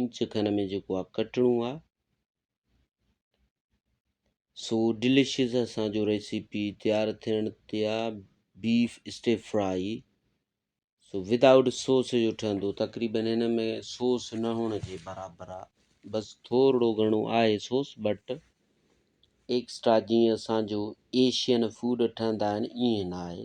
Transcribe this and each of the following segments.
inch کن ۾ جيڪو آ ڪٽڻو آ سو ڊليشيز اسان جو ريسيپي تيار ٿيڻ تي آ بيف اسٽي فرائي سو وداؤٽ سوس جو ٺهندو تقريبا هن ۾ سوس نه هئڻ جي برابر آ بس ٿورڙو گهڻو آهي سوس بٽ ايڪسٽرا جيئن اسان جو ايشين فوڊ ٺهندا آهن ائين نه آهي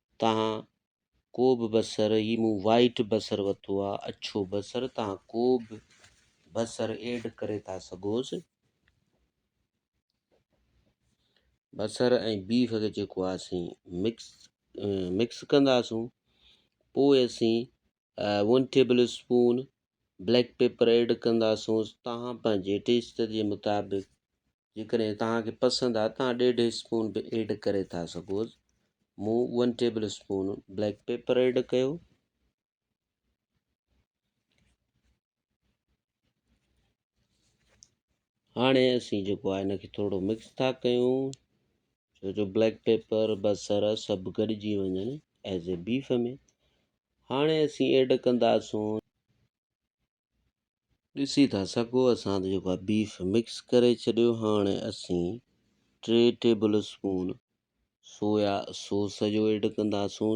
تان ڪوبه بصر هي مون وائيٽ بصر وتو آ اڇو بصر تان ڪوبه بصر ايڊ ڪري ٿا سگهوس بصر ۽ بيف کي جيڪو آسين مڪس مڪس ڪنداسون پوء اسين one tablespoon black pepper add ڪنداسونس توهان پنهنجي ٽيسٽ جي مطابق جيڪڏهن توهان کي پسند آهي توهان ڏيڍ اسپون به ايڊ ڪري ٿا سگهو مون one tablespoon black pepper add ڪيو هاڻي اسين جيڪو آهي هن کي ٿورڙو مڪس ٿا ڪيون ڇو جو بليڪ پيپر بصر سڀ گڏجي وڃن ايز اي بيف ۾ هاڻي اسين ايڊ ڪنداسون ڏسي ٿا سگهو اسان ته جيڪو آهي بيف مڪس ڪري ڇڏيو هاڻي اسين ٽي ٽيبل اسپون سويا سوس جو ايڊ ڪنداسون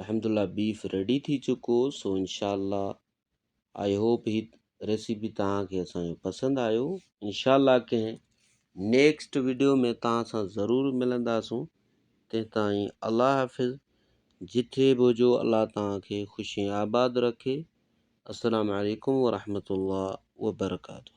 الحمد الله بيف ريڊي ٿي چڪو سو انشاء الله آئي هوپ هي ريسيپي توهان کي اسان جو پسند آيو انشاء الله ڪنهن نيڪسٽ ويڊيو ۾ توهان سان ضرور ملنداسون تي تائين الله حافظ جٿي به هجو الله توهان کي خوشي آباد رکي السلام عليڪم ورحمة الله وبرڪاته